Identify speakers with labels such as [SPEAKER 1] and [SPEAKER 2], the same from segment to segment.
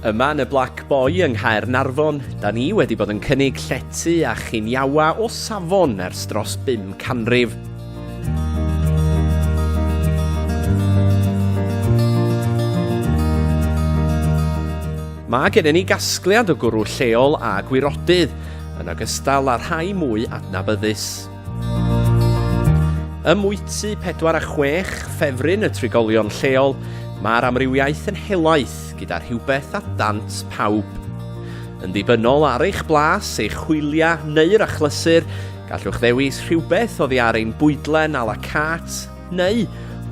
[SPEAKER 1] Yma yn y Black Boy yng Nghaer Narfon, da ni wedi bod yn cynnig llety a chiniawa o safon ers dros bum canrif. Mae gennym ni gasgliad o gwrw lleol a gwirodydd, yn ogystal â rhai mwy adnabyddus. Ym mwyty 4 a 6 ffefryn y trigolion lleol, mae'r amrywiaeth yn helaeth gyda rhywbeth a dant pawb. Yn ddibynnol ar eich blas, eich hwyliau neu'r achlysur, gallwch ddewis rhywbeth oddi ar ein bwydlen a la carte, Neu,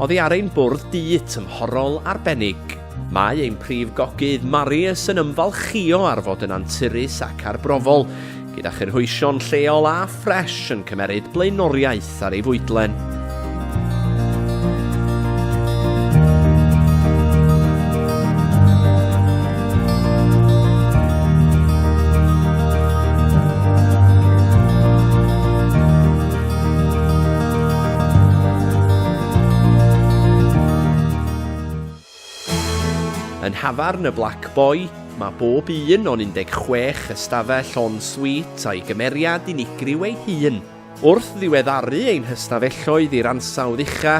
[SPEAKER 1] oddi ar ein bwrdd du tymhorol arbennig. Mae ein prif gogydd Marius yn ymfalchïo ar fod yn anturus ac arbrofol, gyda chynhwysion lleol a ffres yn cymeryd blaenoriaeth ar ei fwydlen. Yn nhafarn y Black Boy, mae bob un o'n 16 ystafell en suite a'i gymeriad unigryw ei hun. Wrth ddiweddaru ein hystafelloedd i'r ansawdd ucha,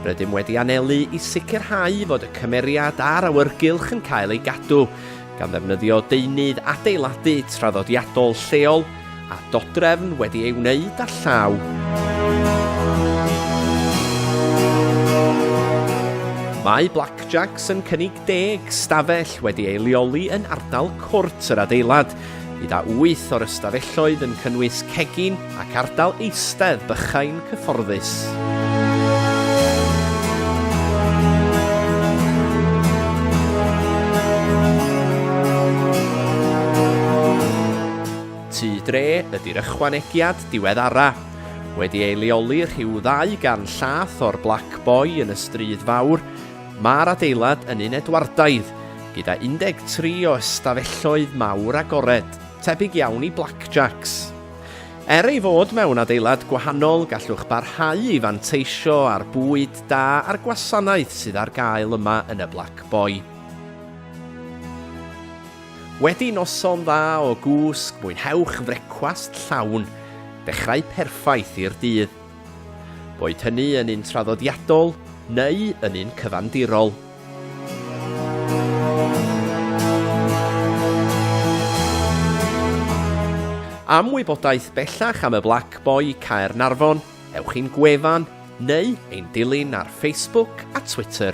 [SPEAKER 1] rydym wedi anelu i sicrhau fod y cymeriad a'r awyrgylch yn cael ei gadw, gan ddefnyddio deunydd adeiladu traddodiadol lleol a dodrefn wedi ei wneud â llaw. Mae Blackjacks yn cynnig deg stafell wedi ei leoli yn ardal cwrt yr adeilad, gyda wyth o'r ystafelloedd yn cynnwys cegin, Ac ardal eistedd bychain cyfforddus. Tŷ dre ydy'r ychwanegiad diweddara'. Wedi ei leoli rhyw ddau gan llath o'r Black Boy yn y Stryd Fawr, mae'r adeilad yn un Edwardaidd, gyda 13 o ystafelloedd mawr agored, tebyg iawn i blackjacks. Er ei fod mewn adeilad gwahanol, gallwch barhau i fanteisio ar bwyd da a'r gwasanaeth sydd ar gael yma yn y Black Boy. Wedi noson dda o gwsg, mwynhewch frecwast llawn, dechrau perffaith i'r dydd. Boed hynny yn un traddodiadol neu yn un cyfandirol. Am wybodaeth bellach am y Black Boy Caernarfon, ewch i'n gwefan neu ein dilyn ar Facebook a Twitter.